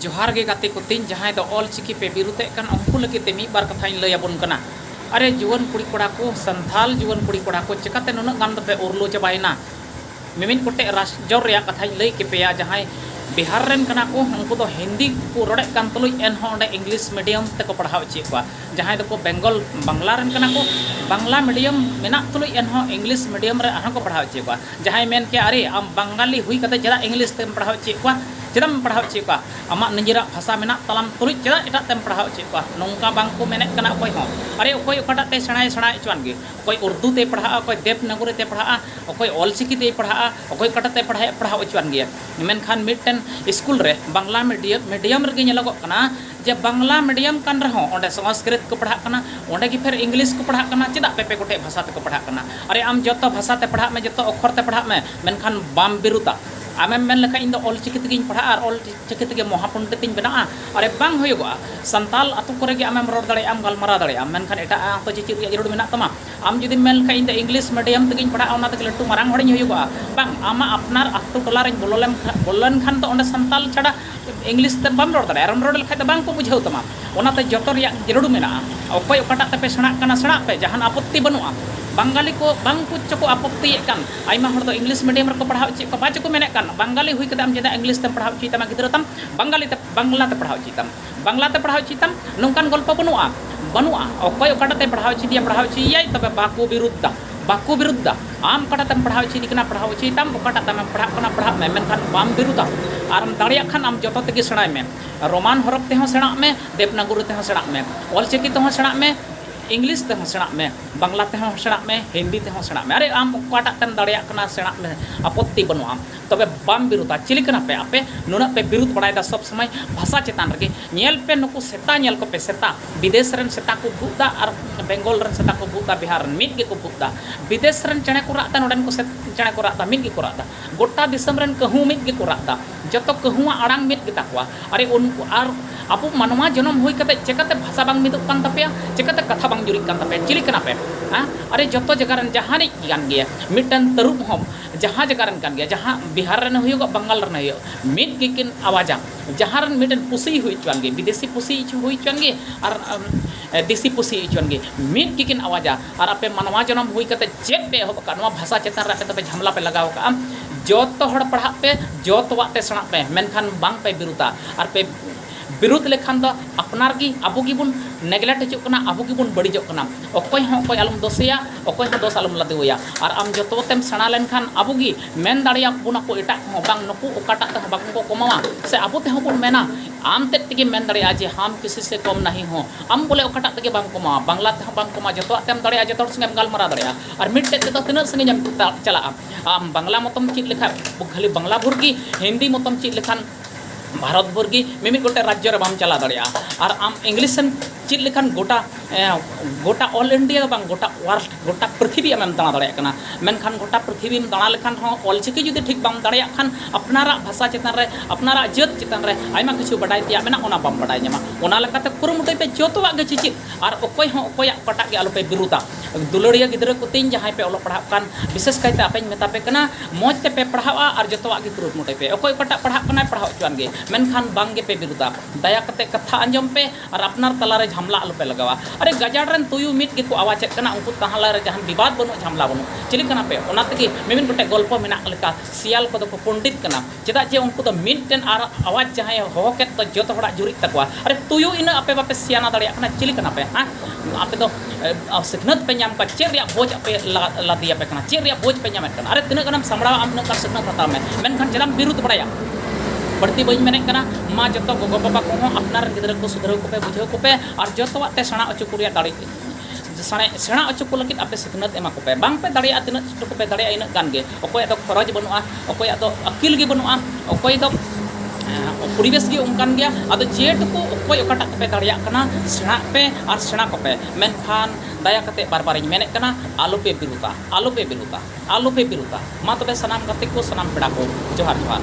ᱡᱚᱦᱟᱨ ᱜᱮ ᱜᱟᱛᱮ ᱠᱚ ᱛᱤᱧ ᱡᱟᱦᱟᱸᱭ ᱫᱚ ᱚᱞ ᱪᱤᱠᱤ ᱯᱮ ᱵᱤᱨᱩᱛᱮᱜ ᱠᱟᱱ ᱩᱱᱠᱩ ᱞᱟᱹᱜᱤᱫ ᱛᱮ ᱢᱤᱫ ᱵᱟᱨ ᱠᱟᱛᱷᱟᱧ ᱞᱟᱹᱭ ᱟᱵᱚᱱ ᱠᱟᱱᱟ ᱟᱨᱮ ᱡᱩᱣᱟᱹᱱ ᱠᱩᱲᱤ ᱠᱚᱲᱟ ᱠᱚ ᱥᱟᱱᱛᱷᱟᱞ ᱡᱩᱣᱟᱹᱱ ᱠᱩᱲᱤ ᱠᱚᱲᱟ ᱠᱚ ᱪᱤᱠᱟᱹᱛᱮ ᱱᱩᱱᱟᱹᱜ ᱜᱟᱱ ᱫᱚᱯᱮ ᱩᱨᱞᱩ ᱪᱟᱵᱟᱭᱮᱱᱟ ᱢᱤᱢᱤᱫ ᱜᱚᱴᱮᱡ ᱨᱟᱡᱽᱡᱚ ᱨᱮᱭᱟᱜ ᱠᱟᱛᱷᱟᱧ ᱞᱟᱹᱭ ᱠᱮᱯᱮᱭᱟ ᱡᱟᱦᱟᱸᱭ ᱵᱤᱦᱟᱨ ᱨᱮᱱ ᱠᱟᱱᱟ ᱠᱚ ᱩᱱᱠᱩ ᱫᱚ ᱦᱤᱱᱫᱤ ᱠᱚ ᱨᱚᱲᱮᱫ ᱠᱟᱱ ᱛᱩᱞᱩᱡ ᱮᱱᱦᱚᱸ ᱚᱸᱰᱮ ᱤᱝᱞᱤᱥ ᱢᱤᱰᱤᱭᱟᱢ ᱛᱮᱠᱚ ᱯᱟᱲᱦᱟᱣ ᱚᱪᱚᱭᱮᱫ ᱠᱚᱣᱟ ᱡᱟᱦᱟᱸᱭ ᱫᱚᱠᱚ ᱵᱮᱝᱜᱚᱞ ᱵᱟᱝᱞᱟ ᱨᱮᱱ ᱠᱟᱱᱟ ᱠᱚ ᱵᱟᱝᱞᱟ ᱢᱤᱰᱤᱭᱟᱢ ᱢᱮᱱᱟᱜ ᱛᱩᱞᱩᱡ ᱮᱱᱦᱚᱸ ᱤᱝᱞᱤᱥ ᱢᱤᱰᱤᱭᱟᱢ ᱨᱮ ᱟᱨᱦᱚᱸ ᱠᱚ ᱯᱟᱲᱦᱟᱣ ᱚᱪᱚᱭᱮᱫ ᱠᱚᱣᱟ ᱡᱟᱦᱟᱸᱭ ᱢᱮᱱ ᱠᱮᱭᱟ ᱟᱨᱮ ᱟᱢ ᱵᱟᱝᱜᱟᱞᱤ ᱦᱩᱭ ᱠᱟᱛᱮᱫ ᱪᱮᱫᱟᱜ ᱤᱝᱞᱤᱥ ᱛᱮᱢ ᱯᱟᱲᱦᱟᱣ ᱚᱪᱚᱭᱮᱫ ᱠᱚᱣᱟ ᱪᱮᱫᱟᱜ ᱮᱢ ᱯᱟᱲᱦᱟᱣ ᱚᱪᱚᱭᱮᱫ ᱠᱚᱣᱟ ᱟᱢᱟᱜ ᱱᱤᱡᱮᱨᱟᱜ ᱵᱷᱟᱥᱟ ᱢᱮᱱᱟᱜ ᱛᱟᱞᱟᱢ ᱛᱩᱞᱩᱡ ᱪᱮᱫᱟᱜ ᱮᱴᱟᱜ ᱛᱮᱢ ᱯᱟᱲᱦᱟᱣ ᱚᱪᱚᱭᱮᱫ ᱠᱚᱣᱟ ᱱᱚᱝᱠᱟ ᱵᱟᱝ ᱠᱚ ᱢᱮᱱᱮᱫ ᱠᱟᱱᱟ ᱚᱠᱚᱭ ᱦᱚᱸ ᱟᱨᱮ ᱚᱠᱚᱭ ᱚᱠᱟᱴᱟᱜ ᱛᱮᱭ ᱥᱮᱬᱟᱭ ᱥᱮᱬᱟ ᱚᱪᱚᱣᱟᱱ ᱜᱮ ᱚᱠᱚᱭ ᱩᱨᱫᱩ ᱛᱮᱭ ᱯᱟᱲᱦᱟᱜᱼᱟ ᱚᱠᱚᱭ ᱫᱮᱵᱽᱱᱟᱜᱚᱨᱤ ᱛᱮᱭ ᱯᱟᱲᱦᱟᱜᱼᱟ ᱚᱠᱚᱭ ᱚᱞ ᱪᱤᱠᱤ ᱛᱮᱭ ᱯᱟᱲᱦᱟᱜᱼᱟ ᱚᱠᱚᱭ ᱚᱠᱟᱴᱟᱜ ᱛᱮᱭ ᱯᱟᱲᱦᱟᱣᱮᱫ ᱯᱟᱲᱦᱟᱣ ᱚᱪᱚᱣᱟᱱ ᱜᱮᱭᱟ ᱢᱮᱱᱠᱷᱟᱱ ᱢᱤᱫᱴᱮᱱ ᱥᱠᱩᱞ ᱨᱮ ᱵᱟᱝᱞᱟ ᱢᱤᱰᱤᱭᱟᱢ ᱢᱤᱰᱤᱭᱟᱢ ᱨᱮᱜᱮ ᱧᱮᱞᱚᱜᱚᱜ ᱠᱟᱱᱟ ᱡᱮ ᱵᱟᱝᱞᱟ ᱢᱤᱰᱤᱭᱟᱢ ᱠᱟᱱ ᱨᱮᱦᱚᱸ ᱚᱸᱰᱮ ᱥᱚᱝᱥᱠᱨᱤᱛ ᱠᱚ ᱯᱟᱲᱦᱟᱜ ᱠᱟᱱᱟ ᱚᱸᱰᱮ ᱜᱮ ᱯᱷᱮᱨ ᱤᱝᱞᱤᱥ ᱠᱚ ᱯᱟᱲᱦᱟᱜ ᱠᱟᱱᱟ ᱪᱮᱫᱟᱜ ᱯᱮ ᱯᱮ ᱜᱚᱴᱮᱡ ᱵᱷᱟᱥᱟ ᱛᱮᱠᱚ ᱯᱟᱲᱦᱟᱜ ᱠᱟᱱᱟ ᱟᱨᱮ ᱟᱢ ᱡᱚᱛᱚ ᱵᱷᱟᱥᱟ ᱛᱮ ᱯᱟᱲᱦᱟᱜ ᱢᱮ ᱡᱚᱛᱚ ᱚᱠᱠᱷᱚᱨ ᱛᱮ ᱯᱟᱲᱦᱟᱜ ᱢᱮ ᱢᱮᱱᱠᱷᱟᱱ ᱵᱟᱢ ᱵᱤᱨᱩᱫᱟ ᱟᱢᱮᱢ ᱢᱮᱱ ᱞᱮᱠᱷᱟᱱ ᱤᱧ ᱫᱚ ᱚᱞ ᱪᱤᱠᱤ ᱛᱮᱜᱮᱧ ᱯᱟᱲᱦᱟᱜᱼᱟ ᱟᱨ ᱚᱞ ᱪᱤᱠᱤ ᱛᱮᱜᱮ ᱢᱚᱦᱟ ᱯᱚᱱᱰᱤᱛ ᱤᱧ ᱵᱮᱱᱟᱜᱼᱟ ᱟᱨᱮ ᱵᱟᱝ ᱦᱩᱭᱩᱜᱚᱜᱼᱟ ᱥᱟᱱᱛᱟᱲ ᱟᱹᱛᱩ ᱠᱚᱨᱮ ᱜᱮ ᱟᱢᱮᱢ ᱨᱚᱲ ᱫᱟᱲᱮᱭᱟᱜ ᱟᱢ ᱜᱟᱞᱢᱟᱨᱟᱣ ᱫᱟᱲᱮᱭᱟᱜ ᱟᱢ ᱢᱮᱱᱠᱷᱟᱱ ᱮᱴᱟᱜ ᱟᱜ ᱦᱚᱸᱛᱚ ᱪᱮᱪᱮᱫ ᱨᱮᱭᱟᱜ ᱡᱟᱹᱨᱩᱲ ᱢᱮᱱᱟᱜ ᱛᱟᱢᱟ ᱟᱢ ᱡᱩᱫᱤᱢ ᱢᱮᱱ ᱞᱮᱠᱷᱟᱱ ᱤᱧ ᱫᱚ ᱤᱝᱞᱤᱥ ᱢᱤᱰᱤᱭᱟᱢ ᱛᱮᱜᱮᱧ ᱯᱟᱲᱦᱟᱜᱼᱟ ᱚᱱᱟ ᱛᱮᱜᱮ ᱞᱟᱹᱴᱩ ᱢᱟᱨᱟᱝ ᱦᱚᱲᱤᱧ ᱦᱩᱭᱩᱜᱚᱜᱼᱟ ᱵᱟᱝ ᱟᱢᱟᱜ ᱟᱯᱱᱟᱨ ᱟᱹᱛᱩ ᱴᱚᱞᱟ ᱨᱤᱧ ᱵᱚᱞᱚ ᱞᱮᱱᱠᱷᱟᱱ ᱵᱚᱞᱚ ᱞᱮᱱᱠᱷᱟᱱ ᱫᱚ ᱚᱸᱰᱮ ᱥᱟᱱᱛᱟᱲ ᱪᱷᱟᱲᱟ ᱤᱝᱞᱤᱥ ᱛᱮ ᱵᱟᱢ ᱨᱚᱲ ᱫᱟᱲᱮᱭᱟᱜᱼᱟ ᱟᱨᱮᱢ ᱨᱚᱲ ᱞᱮᱠᱷᱟᱱ ᱫᱚ ᱵᱟᱝ ᱠᱚ ᱵᱩᱡᱷᱟᱹᱣ ᱛᱟᱢᱟ ᱚᱱᱟᱛᱮ ᱡᱚᱛᱚ ᱨᱮᱭᱟᱜ ᱡᱟᱹᱨᱩᱲ ᱢᱮᱱᱟᱜᱼᱟ ᱚᱠᱚᱭ ᱚᱠᱟᱴᱟᱜ ᱛᱮᱯᱮ ᱥᱮᱬᱟᱜ ᱠᱟᱱᱟ ᱥᱮᱬᱟᱜ ᱯᱮ ᱡᱟᱦᱟᱱ ᱟᱯᱚᱛᱛᱤ ᱵᱟᱹᱱᱩᱜᱼᱟ ᱵᱟᱝᱜᱟᱞᱤ ᱠᱚ ᱵᱟᱝ ᱠᱚ ᱪᱚᱠᱚ ᱟᱯᱚᱛᱛᱤᱭᱮᱫ ᱠᱟᱱ ᱟᱭᱢᱟ ᱦᱚᱲ ᱫᱚ ᱤᱝᱞᱤᱥ ᱢᱤᱰᱤᱭᱟᱢ ᱨᱮᱠᱚ ᱯᱟᱲᱦᱟᱣ ᱚᱪᱚᱭᱮᱫ ᱠᱚᱣᱟ ᱵᱟ ᱪᱚᱠᱚ ᱢᱮᱱᱮᱫ ᱠᱟᱱ ᱵᱟᱝᱜᱟᱞᱤ ᱦᱩᱭ ᱠᱟᱛᱮᱫ ᱟᱢ ᱪᱮᱫᱟᱜ ᱤᱝᱞᱤᱥ ᱛᱮᱢ ᱯᱟᱲᱦᱟᱣ ᱚᱪᱚᱭᱮ ᱛᱟᱢᱟ ᱜᱤᱫᱽᱨᱟᱹ ᱛᱟᱢ ᱵᱟᱝᱜᱟᱞᱤ ᱛᱮ ᱵᱟᱝᱞᱟ ᱛᱮ ᱯᱟᱲᱦᱟᱣ ᱚᱪᱚᱭᱮ ᱛᱟᱢ ᱵᱟᱝᱞᱟ ᱛᱮ ᱯᱟᱲᱦᱟᱣ ᱚᱪᱚᱭᱮ ᱛᱟᱢ ᱱᱚᱝᱠᱟᱱ ᱜᱚᱞᱯᱚ ᱵᱟᱹᱱᱩᱜᱼᱟ ᱵᱟᱹᱱᱩᱜᱼᱟ ᱚᱠᱚᱭ ᱚᱠᱟᱴᱟᱜ ᱛᱮ ᱯᱟᱲᱦᱟᱣ ᱚᱪᱚᱭᱮᱫᱮᱭᱟ ᱯᱟᱲᱦᱟᱣ ᱚᱪᱚᱭᱮᱭᱟᱭ ᱛᱚᱵᱮ ᱵᱟᱠᱚ ᱵᱤᱨᱩᱫᱷ ᱮᱫᱟ ᱵᱟᱠᱚ ᱵᱤᱨᱩᱫᱷᱫᱟ ᱟᱢ ᱚᱠᱟᱴᱟᱜ ᱛᱮᱢ ᱯᱟᱲᱦᱟᱣ ᱦᱚᱪᱚᱭᱮ ᱠᱟᱱᱟ ᱯᱟᱲᱦᱟᱣ ᱦᱚᱪᱚᱭᱮ ᱛᱟᱢ ᱚᱠᱟᱴᱟᱜ ᱛᱮ ᱟᱢᱮᱢ ᱯᱟᱲᱦᱟᱜ ᱠᱟᱱᱟ ᱯᱟᱲᱦᱟᱜ ᱢᱮ ᱢᱮᱱᱠᱷᱟᱱ ᱵᱟᱢ ᱵᱤᱨᱩᱫᱷᱟ ᱟᱨᱮᱢ ᱫᱟᱲᱮᱭᱟᱜ ᱠᱷᱟᱱ ᱟᱢ ᱡᱚᱛᱚ ᱛᱮᱜᱮ ᱥᱮᱬᱟᱭ ᱢᱮ ᱨᱳᱢᱟᱱ ᱦᱚᱨᱚᱯ ᱛᱮᱦᱚᱸ ᱥᱮᱬᱟᱜ ᱢᱮ ᱫᱮᱵᱽᱱᱟᱜᱚᱨᱤ ᱛᱮᱦᱚᱸ ᱥᱮᱬᱟᱜ ᱢᱮ ᱚᱞ ᱪᱤᱠᱤ ᱛᱮᱦᱚᱸ ᱥᱮᱬᱟᱜ ᱢᱮ ᱤᱝᱞᱤᱥ ᱛᱮᱦᱚᱸ ᱥᱮᱬᱟᱜ ᱢᱮ ᱵᱟᱝᱞᱟ ᱛᱮᱦᱚᱸ ᱥᱮᱬᱟᱜ ᱢᱮ ᱦᱤᱱᱫᱤ ᱛᱮᱦᱚᱸ ᱥᱮᱬᱟᱜ ᱢᱮ ᱟᱨᱮ ᱟᱢ ᱚᱠᱟᱴᱟᱜ ᱛᱮᱢ ᱫᱟᱲᱮᱭᱟᱜ ᱠᱟᱱᱟ ᱥᱮᱬᱟᱜ ᱢᱮ ᱟᱯᱚᱛᱛᱤ ᱵᱟᱹᱱᱩᱜᱼᱟ ᱛᱚᱵᱮ ᱵᱟᱢ ᱵᱤᱨᱩᱫᱷᱟ ᱪᱤᱞᱤ ᱠᱟᱱᱟ ᱯᱮ ᱟᱯᱮ ᱱᱩᱱᱟᱹᱜ ᱯᱮ ᱵᱤᱨᱩᱫᱷ ᱵᱟᱲᱟᱭᱮᱫᱟ ᱥᱚᱵᱽ ᱥᱚᱢᱚᱭ ᱵᱷᱟᱥᱟ ᱪᱮᱛᱟᱱ ᱨᱮᱜᱮ ᱧᱮᱞ ᱯᱮ ᱱᱩᱠᱩ ᱥᱮᱛᱟ ᱧᱮᱞ ᱠᱚᱯᱮ ᱥᱮᱛᱟ ᱵᱤᱫᱮᱥ ᱨᱮᱱ ᱥᱮᱛᱟ ᱠᱚ ᱵᱷᱩᱜ ᱫᱟ ᱟᱨ ᱵᱮᱝᱜᱚᱞ ᱨᱮᱱ ᱥᱮᱛᱟ ᱠᱚ ᱵᱷᱩᱜ ᱫᱟ ᱵᱤᱦᱟᱨ ᱨᱮᱱ ᱢᱤᱫ ᱜᱮᱠᱚ ᱵᱷᱩᱜ ᱫᱟ ᱵᱤᱫᱮᱥ ᱨᱮᱱ ᱪᱮᱬᱮ ᱠᱚ ᱨᱟᱜ ᱫᱟ ᱱᱚᱰᱮᱱ ᱠᱚ ᱪᱮᱬᱮ ᱠᱚ ᱨᱟᱜ ᱫᱟ ᱢᱤᱫ ᱜᱮᱠᱚ ᱨᱟᱜ ᱫᱟ ᱜᱚᱴᱟ ᱫᱤᱥᱚᱢ ᱨᱮᱱ ᱠᱟᱹᱦᱩ ᱢᱤᱫ ᱜᱮᱠᱚ ᱨᱟᱜ ᱫᱟ ᱡᱚᱛᱚ ᱠᱟᱹᱦᱩᱣᱟᱜ ᱟᱲᱟᱝ ᱢᱤᱫ ᱜᱮᱛᱟ ᱠᱚᱣᱟ ᱟᱨᱮ ᱩᱱᱠᱩ ᱟᱨ ᱟᱵᱚ ᱢᱟᱱᱣᱟ ᱡᱚᱱᱚᱢ ᱦᱩᱭ ᱠᱟᱛᱮ ᱪᱤᱠᱟᱹᱛᱮ ᱵᱷᱟᱥᱟ ᱵᱟᱝ ᱢᱤᱫᱚᱜ ᱠᱟᱱ ᱛᱟᱯᱮᱭᱟ ᱪᱤᱠᱟᱹᱛᱮ ᱠᱟᱛᱷᱟ ᱵᱟᱝ ᱡᱩᱨᱤᱜ ᱠᱟᱱ ᱛᱟᱯᱮᱭᱟ ᱪᱤᱞᱤ ᱠᱟᱱᱟ ᱯᱮ ᱦᱮᱸ ᱟᱨᱮ ᱡᱚᱛᱚ ᱡᱟᱭᱜᱟ ᱨᱮᱱ ᱡᱟᱦᱟᱱᱤᱡ ᱠᱟᱱ ᱜᱮᱭᱟ ᱢᱤᱫᱴᱟᱝ ᱛᱟᱹᱨᱩᱵ ᱦᱚᱸ ᱡᱟᱦᱟᱸ ᱡᱟᱭᱜᱟ ᱨᱮᱱ ᱠᱟᱱ ᱜᱮᱭᱟᱭ ᱡᱟᱦᱟᱸ ᱵᱤᱦᱟᱨ ᱨᱮᱱᱮ ᱦᱩᱭᱩᱜᱚᱜ ᱵᱟᱝᱜᱟᱞ ᱨᱮᱱᱮ ᱦᱩᱭᱩᱜᱚᱜ ᱢᱤᱫ ᱜᱮᱠᱤᱱ ᱟᱣᱟᱡᱟ ᱡᱟᱦᱟᱸ ᱨᱮᱱ ᱢᱤᱫᱴᱮᱱ ᱯᱩᱥᱤ ᱦᱩᱭ ᱦᱚᱪᱚᱣᱟᱱ ᱜᱮ ᱵᱤᱫᱮᱥᱤ ᱯᱩᱥᱤ ᱦᱩᱭ ᱦᱚᱪᱚᱣᱟᱱ ᱜᱮ ᱟᱨ ᱫᱮᱥᱤ ᱯᱩᱥᱤ ᱦᱩᱭ ᱦᱚᱪᱚᱣᱟᱱ ᱜᱮ ᱢᱤᱫ ᱜᱮᱠᱤᱱ ᱟᱣᱟᱡᱟ ᱟᱨ ᱟᱯᱮ ᱢᱟᱱᱣᱟ ᱡᱚᱱᱚᱢ ᱦᱩᱭ ᱠᱟᱛᱮᱫ ᱪᱮᱫ ᱯᱮ ᱮᱦᱚᱵ ᱟᱠᱟᱫᱼᱟ ᱱᱚᱣᱟ ᱵᱷᱟᱥᱟ ᱪᱮᱛᱟᱱ ᱨᱮ ᱟᱯᱮ ᱫᱚᱯᱮ ᱡᱷᱟᱢᱮᱞᱟ ᱯᱮ ᱞᱟᱜᱟᱣ ᱠᱟᱜᱼᱟ ᱡᱚᱛᱚ ᱦᱚᱲ ᱯᱟᱲᱦᱟᱜ ᱯᱮ ᱡᱚᱛᱚᱣᱟᱜ ᱛᱮ ᱥᱮᱬᱟᱜ ᱯᱮ ᱢᱮᱱᱠᱷᱟᱱ ᱵᱟᱝ ᱯᱮ ᱵᱤᱨᱩᱫᱟ ᱟᱨ ᱯᱮ ᱵᱤᱨᱩᱫ ᱞᱮᱠᱷᱟᱱ ᱫᱚ ᱟᱯᱱᱟᱨ ᱜᱮ ᱟᱵᱚ ᱜᱮᱵᱚᱱ ᱱᱮᱜᱽᱞᱮᱠᱴ ᱦᱤᱡᱩᱜ ᱠᱟᱱᱟ ᱟᱵᱚ ᱜᱮᱵᱚᱱ ᱵᱟᱹᱲᱤᱡᱚᱜ ᱠᱟᱱᱟ ᱚᱠᱚᱭ ᱦᱚᱸ ᱚᱠᱚᱭ ᱟᱞᱚᱢ ᱫᱳᱥᱮᱭᱟ ᱚᱠᱚᱭ ᱦᱚᱸ ᱫᱳᱥ ᱟᱞᱚᱢ ᱞᱟᱫᱮᱣᱟᱭᱟ ᱟᱨ ᱟᱢ ᱡᱚᱛᱚᱛᱮᱢ ᱥᱮᱬᱟ ᱞᱮᱱᱠᱷᱟᱱ ᱟᱵᱚ ᱜᱮ ᱢᱮᱱ ᱫᱟᱲᱮᱭᱟᱜ ᱵᱚᱱᱟ ᱠᱚ ᱮᱴᱟᱜ ᱠᱚᱦᱚᱸ ᱵᱟᱝ ᱱᱩᱠᱩ ᱚᱠᱟᱴᱟᱜ ᱛᱮᱦᱚᱸ ᱵᱟᱝ ᱠᱚ ᱠᱚᱢᱟᱣᱟ ᱥᱮ ᱟᱵᱚ ᱛᱮᱦᱚᱸ ᱵᱚᱱ ᱢᱮᱱᱟ ᱟᱢ ᱛᱮᱫ ᱛᱮᱜᱮ ᱢᱮᱱ ᱫᱟᱲᱮᱭᱟᱜᱼᱟ ᱡᱮ ᱦᱟᱢ ᱠᱤᱥᱤ ᱥᱮ ᱠᱚᱢ ᱱᱟᱦᱤ ᱦᱚᱸ ᱟᱢ ᱵᱚᱞᱮ ᱚᱠᱟᱴᱟᱜ ᱛᱮᱜᱮ ᱵᱟᱝ ᱠᱚᱢᱟᱣᱟ ᱵᱟᱝᱞᱟ ᱛᱮᱦᱚᱸ ᱵᱟᱝ ᱠᱚᱢᱟᱣᱟ ᱡᱚᱛᱚᱣᱟᱜ ᱛᱮᱢ ᱫᱟᱲᱮᱭᱟᱜᱼᱟ ᱡᱚᱛᱚ ᱦᱚᱲ ᱥᱚᱸᱜᱮᱢ ᱜᱟᱞᱢᱟᱨᱟᱣ ᱫᱟᱲᱮᱭᱟᱜᱼᱟ ᱟᱨ ᱢᱤᱫᱴᱮᱡ ᱛᱮᱫᱚ ᱛᱤᱱᱟᱹᱜ ᱥᱟᱺᱜᱤᱧ ᱮᱢ ᱪᱟᱞᱟᱜᱼᱟ ᱟᱢ ᱵᱟᱝᱞᱟ ᱢᱚᱛᱚᱢ ᱪᱮᱫ ᱞᱮᱠᱷᱟᱱ ᱠᱷᱟᱹᱞᱤ ᱵᱟᱝᱞᱟ ᱵᱷᱳᱨ ᱜᱮ ᱦᱤᱱᱫᱤ ᱢᱚᱛᱚᱢ ᱪᱮᱫ ᱞᱮᱠᱷᱟᱱ ᱵᱷᱟᱨᱚᱛ ᱵᱷᱳᱨ ᱜᱮ ᱢᱤᱢᱤᱫ ᱜᱚᱴᱮᱡ ᱨᱟᱡᱽᱡᱚ ᱨᱮ ᱵᱟᱢ ᱪᱟᱞᱟᱣ ᱫᱟᱲᱮᱭᱟᱜᱼᱟ ᱟᱨ ᱟᱢ ᱤᱝᱞᱤᱥ ᱮᱢ ᱪᱮᱫ ᱞᱮᱠᱷᱟᱱ ᱜᱚᱴᱟ ᱜᱚᱴᱟ ᱚᱞ ᱤᱱᱰᱤᱭᱟ ᱫᱚ ᱵᱟᱝ ᱜᱚᱴᱟ ᱚᱣᱟᱨᱞᱰ ᱜᱚᱴᱟ ᱯᱨᱤᱛᱷᱤᱵᱤ ᱟᱢᱮᱢ ᱫᱟᱬᱟ ᱫᱟᱲᱮᱭᱟᱜ ᱠᱟᱱᱟ ᱢᱮᱱᱠᱷᱟᱱ ᱜᱚᱴᱟ ᱯᱨᱤᱛᱷᱤᱵᱤᱢ ᱫᱟᱬᱟ ᱞᱮᱠᱷᱟᱱ ᱦᱚᱸ ᱚᱞ ᱪᱤᱠᱤ ᱡᱩᱫᱤ ᱴᱷᱤᱠ ᱵᱟᱢ ᱫᱟᱲᱮᱭᱟᱜ ᱠᱷᱟᱱ ᱟᱯᱱᱟᱨᱟᱜ ᱵᱷᱟᱥᱟ ᱪᱮᱛᱟᱱ ᱨᱮ ᱟᱯᱱᱟᱨᱟᱜ ᱡᱟᱹᱛ ᱪᱮᱛᱟᱱ ᱨᱮ ᱟᱭᱢᱟ ᱠᱤᱪᱷᱩ ᱵᱟᱰᱟᱭ ᱛᱮᱭᱟᱜ ᱢᱮᱱᱟᱜᱼᱟ ᱚᱱᱟ ᱵᱟᱢ ᱵᱟᱰᱟᱭ ᱧᱟᱢᱟ ᱚᱱᱟ ᱞᱮᱠᱟᱛᱮ ᱠᱩᱨᱩᱢᱩᱴᱩᱭ ᱯᱮ ᱡᱚᱛᱚᱣᱟᱜ ᱜᱮ ᱪᱮᱪᱮᱫ ᱟᱨ ᱚᱠᱚᱭ ᱦᱚᱸ ᱚᱠᱚᱭᱟᱜ ᱚᱠᱟᱴᱟᱜ ᱜᱮ ᱟᱞᱚᱯᱮ ᱵᱤᱨᱩᱫᱟ ᱫᱩᱞᱟᱹᱲᱤᱭᱟᱹ ᱜᱤᱫᱽᱨᱟᱹ ᱠᱚ ᱛᱤᱧ ᱡᱟᱦᱟᱸᱭ ᱯᱮ ᱚᱞᱚᱜ ᱯᱟᱲᱦᱟᱜ ᱠᱟᱱ ᱵᱤᱥᱮᱥ ᱠᱟᱭᱛᱮ ᱟᱯᱮᱧ ᱢᱮᱛᱟ ᱯᱮ ᱠᱟᱱᱟ ᱢᱚᱡᱽ ᱛᱮᱯᱮ ᱯᱟᱲᱦᱟᱜᱼᱟ ᱟᱨ ᱡᱚᱛᱚᱣᱟᱜ ᱜᱮ ᱠᱩᱨᱩᱢᱩᱴᱩᱭ ᱯᱮ ᱚᱠᱚᱭ ᱚᱠᱟᱴᱟᱜ ᱯᱟᱲᱦᱟᱜ ᱠᱟᱱᱟᱭ ᱯᱟᱲᱦᱟᱣ ᱦᱚᱪᱚᱣᱟᱱ ᱜᱮ ᱢᱮᱱᱠᱷᱟᱱ ᱵᱟᱝ ᱜᱮᱯᱮ ᱵᱤᱨᱩᱫᱟ ᱫᱟᱭᱟ ᱠᱟᱛᱮᱫ ᱠᱟᱛᱷᱟ ᱟᱸᱡᱚᱢ ᱯᱮ ᱟᱨ ᱟᱯᱱᱟᱨ ᱛᱟᱞᱟ ᱨᱮ ᱡᱷᱟᱢᱮᱞᱟ ᱟᱞᱚ ᱯᱮ ᱞᱟᱜᱟᱣᱟ ᱟᱨᱮ ᱜᱟᱡᱟᱲ ᱨᱮᱱ ᱛᱩᱭᱩ ᱢᱤᱫ ᱜᱮᱠᱚ ᱟᱣᱟᱡᱽ ᱮᱫ ᱠᱟᱱᱟ ᱩᱱᱠᱩ ᱛᱟᱞᱟ ᱨᱮ ᱡᱟᱦᱟᱱ ᱵᱤᱵᱟᱫᱽ ᱵᱟᱹᱱᱩᱜ ᱡᱷᱟᱢᱮᱞᱟ ᱵᱟᱹᱱᱩᱜ ᱪᱤᱞᱤ ᱠᱟᱱᱟ ᱯᱮ ᱚᱱᱟ ᱛᱮᱜᱮ ᱢᱤᱢᱤᱫ ᱜᱚᱴᱮᱡ ᱜᱚᱞᱯᱚ ᱢᱮᱱᱟᱜ ᱞᱮᱠᱟ ᱥᱤᱭᱟᱞ ᱠᱚᱫᱚ ᱠᱚ ᱯᱚᱱᱰᱤᱛ ᱠᱟᱱᱟ ᱪᱮᱫᱟᱜ ᱡᱮ ᱩᱱᱠᱩ ᱫᱚ ᱢᱤᱫ ᱴᱮᱱ ᱟᱨ ᱟᱣᱟᱡᱽ ᱡᱟᱦᱟᱸᱭ ᱮ ᱦᱚᱦᱚ ᱠᱮᱫ ᱫᱚ ᱡᱚᱛᱚ ᱦᱚᱲᱟᱜ ᱡᱩᱨᱤᱜ ᱛᱟᱠᱚᱣᱟ ᱟᱨᱮ ᱛᱩᱭᱩ ᱤᱱᱟᱹᱜ ᱟᱯᱮ ᱵᱟᱯᱮ ᱥᱮᱭᱟᱱᱟ ᱫᱟᱲᱮᱭᱟᱜ ᱠᱟᱱᱟ ᱪᱤᱞᱤ ᱠᱟᱱᱟ ᱯᱮ ᱦᱮᱸ ᱟᱯᱮ ᱫᱚ ᱥᱤᱠᱷᱱᱟᱹᱛ ᱯᱮ ᱧᱟᱢ ᱠᱟᱜᱼᱟ ᱪᱮᱫ ᱨᱮᱭᱟᱜ ᱵᱳᱡᱽ ᱟᱯᱮ ᱞᱟᱫᱮ ᱟᱯᱮ ᱠᱟᱱᱟ ᱪᱮᱫ ᱨᱮᱭᱟᱜ ᱵᱳᱡᱽ ᱯᱮ ᱧᱟᱢᱮᱫ ᱠᱟᱱᱟ ᱟᱨᱮ ᱛᱤᱱᱟᱹᱜ ᱜᱟᱱᱮᱢ ᱥᱟᱢᱵᱽᱲᱟᱣᱟ ᱟᱢ ᱩᱱᱟᱹᱜ ᱜᱟᱱ ᱥᱤᱠᱷᱱᱟᱹᱛ ᱦᱟᱛᱟᱣ ᱢᱮ ᱢᱮᱱᱠᱷᱟᱱ ᱪᱮᱫᱟᱜ ᱮᱢ ᱵᱤᱨᱩᱫᱷ ᱵᱟᱲᱟᱭᱟ ᱵᱟᱹᱲᱛᱤ ᱵᱟᱹᱧ ᱢᱮᱱᱮᱫ ᱠᱟᱱᱟ ᱢᱟ ᱡᱚᱛᱚ ᱜᱚᱜᱚ ᱵᱟᱵᱟ ᱠᱚᱦᱚᱸ ᱟᱯᱱᱟᱨ ᱨᱮᱱ ᱜᱤᱫᱽᱨᱟᱹ ᱠᱚ ᱥᱩᱫᱷᱨᱟᱹᱣ ᱠᱚᱯᱮ ᱵᱩᱡᱷᱟᱹᱣ ᱠᱚᱯᱮ ᱟᱨ ᱡᱚᱛᱚᱣᱟᱜ ᱛᱮ ᱥᱮᱬᱟ ᱦᱚᱪᱚ ᱠᱚ ᱨᱮᱭᱟᱜ ᱫᱟᱲᱮ ᱥᱟᱬᱮ ᱥᱮᱬᱟ ᱚᱪᱚ ᱠᱚ ᱞᱟᱹᱜᱤᱫ ᱟᱯᱮ ᱥᱤᱠᱷᱱᱟᱹᱛ ᱮᱢᱟ ᱠᱚᱯᱮ ᱵᱟᱝ ᱯᱮ ᱫᱟᱲᱮᱭᱟᱜᱼᱟ ᱛᱤᱱᱟᱹᱜ ᱴᱩᱠᱩ ᱯᱮ ᱫᱟᱲᱮᱭᱟᱜᱼᱟ ᱤᱱᱟᱹᱜ ᱜᱟᱱ ᱜᱮ ᱚᱠᱚᱭᱟᱜ ᱫᱚ ᱠᱷᱚᱨᱚᱪ ᱵᱟᱹᱱᱩᱜᱼᱟ ᱚᱠᱚᱭᱟᱜ ᱫᱚ ᱟᱹᱠᱤᱞ ᱜᱮ ᱵᱟᱹᱱᱩᱜᱼᱟ ᱚᱠᱚᱭ ᱫᱚ ᱯᱚᱨᱤᱵᱮᱥ ᱜᱮ ᱚᱱᱠᱟᱱ ᱜᱮᱭᱟ ᱟᱫᱚ ᱡᱮ ᱴᱩᱠᱩ ᱚᱠᱚᱭ ᱚᱠᱟᱴᱟᱜ ᱯᱮ ᱫᱟᱲᱮᱭᱟᱜ ᱠᱟᱱᱟ ᱥᱮᱬᱟᱜ ᱯᱮ ᱟᱨ ᱥᱮᱬᱟ ᱠᱚᱯᱮ ᱢᱮᱱᱠᱷᱟᱱ ᱫᱟᱭᱟ ᱠᱟᱛᱮ ᱵᱟᱨ ᱵᱟᱨᱤᱧ ᱢᱮᱱᱮᱫ ᱠᱟᱱᱟ ᱟᱞᱚ ᱯᱮ ᱵᱤᱨᱩᱫᱟ ᱟᱞᱚ ᱯᱮ ᱵᱤᱨᱩᱫᱟ ᱟᱞᱚ ᱯᱮ ᱵᱤᱨᱩᱫᱟ ᱢᱟ ᱛᱚᱵᱮ ᱥᱟᱱᱟᱢ ᱜᱟᱛᱮ ᱠᱚ ᱥᱟᱱᱟᱢ ᱯᱮᱲᱟ ᱠᱚ ᱡᱚᱦᱟᱨ ᱡᱚᱦᱟᱨ